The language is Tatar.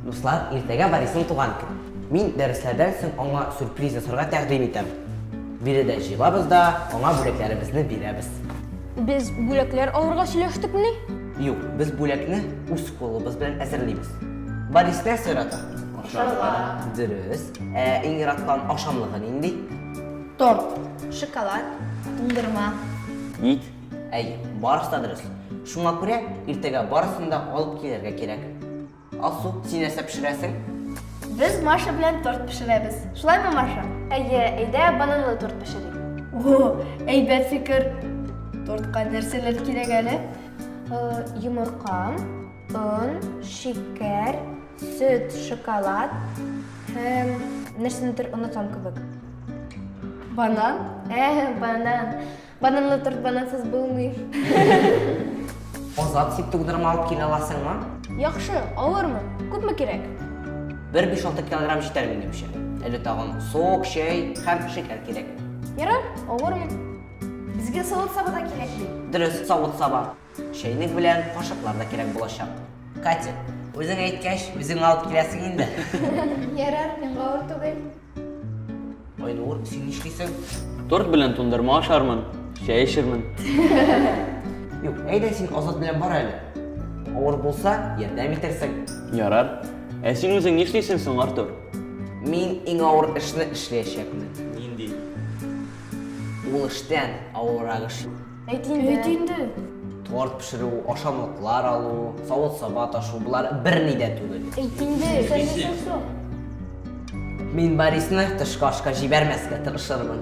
Дуслар, иртәгә Борисның туган көне. Мин дәресләрдән соң аңа сюрприз ясарга тәкъдим итәм. Биредә җыелабыз да, аңа бүләкләребезне бирәбез. Без бүләкләр алырга сөйләштекмени? Юк, без бүләкне үз кулыбыз белән әзерлибез. Борис нәрсә ярата? Ашарга. Дөрес. Ә иң яраткан ашамлыгы нинди? Торт, шоколад, туңдырма. Ник? Әй, барысы да дөрес. Шуңа күрә иртәгә барысын да алып килергә кирәк. Алсу, син нәрсә пешерәсең? Без Маша белән торт пешерәбез. Шулаймы, Маша? Әйе, әйдә бананлы торт пешерик. О, әйбәт фикер. Тортка нәрсәләр кирәк әле? Э, йомырка, он, шикәр, сөт, шоколад һәм нәрсәнедер онытам кебек. Банан? Ә, банан. Бананлы торт банансыз булмый. Азат, син тугдырма алып килә аласыңмы? Яхшы, алырмын. Күпме кирәк? Бер 5-6 килограмм җитәр минемчә. Әле тагын сок, чәй һәм шикәр кирәк. Ярар, алырмын. Безгә савыт-саба да кирәк бит. Дөрес, савыт-саба. Чәйнек белән кашыклар да кирәк булачак. Катя, үзең әйткәч, үзең алып киләсең инде. Ярар, миңа авыр түгел. Айнур, син нишлисең? Торт белән тундырма ашармын, чәй эчермен. Юк, әйдә син Азат белән бар әле. Авыр булса, ярдәм итерсең. Ярар. Ә син үзең нишлисең соң, Артур? Мин иң авыр эшне эшләячәкмен. Нинди? Ул эштән авыррак эш юк. Әйт инде. Әйт инде. Торт пешерү, ашамлыклар алу, савыт-саба ташу, болар берни дә түгел. Әйт инде. Сәләсен сор. Мин Борисны тышкы ашка җибәрмәскә тырышырмын.